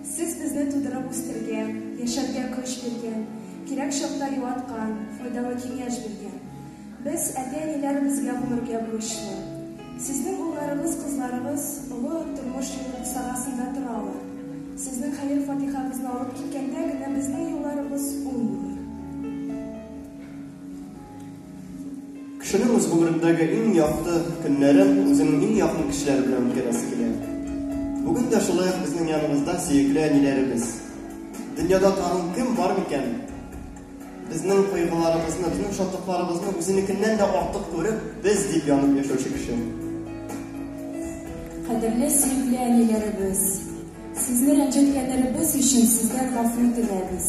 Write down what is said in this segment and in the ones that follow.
Сез безне тудырып үстергән, яшәргә көч биргән, кирәк чакта юаткан, файдалы киңәш биргән. Без әти-әниләр безгә булырга бурычлы. Сезнең улларыгыз, кызларыгыз олы тормыш юлы сагасында торалар. Сезнең хәер фатихагызны алып киткәндә генә безнең юлларыбыз уң булыр. Кешенең үз гомерендәге иң якты көннәрен үзенең иң якын кешеләре белән үткәрәсе килә. Бүген дә шулай ук безнең яныбызда сөекле әниләребез. Дөньяда тагын кем бар микән? Безнең кайгыларыбызны, безнең шатлыкларыбызны үзенекеннән дә артык күреп, без дип янып яшәүче кеше. Кадерле сөекле әниләребез, сезне рәнҗеткәннәребез өчен сездән гафу теләбез.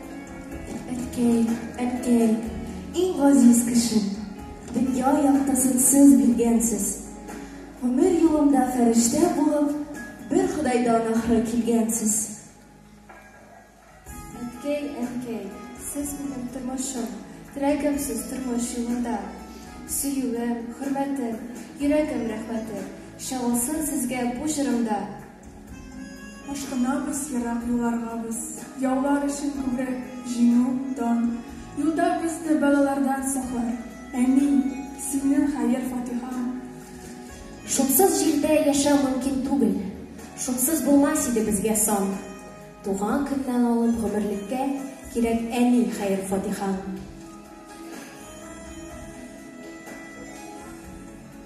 Әткәй, әткәй, иң газиз кешем, дөнья яктысы сез биргәнсез. Гомер юлымда фәрештә булып, бер Ходайдан ахры килгәнсез. Әткәй, әткәй, сез минем тормышым, терәгемсез тормыш юлында. Сөюем, хөрмәтем, йөрәгем рәхмәте, чагылсын сезгә бу җырымда. Ашкынабыз ерак юлларга без, Яулар өчен күбрәк җиңү, дан. Юлда безне бәлалардан саклар, Әни, синең хәер-фатихаң. Шуксыз җирдә яшәү мөмкин түгел, Шуксыз булмас иде безгә сан. Туган көннән алып гомерлеккә Кирәк, әни, хәер-фатихаң.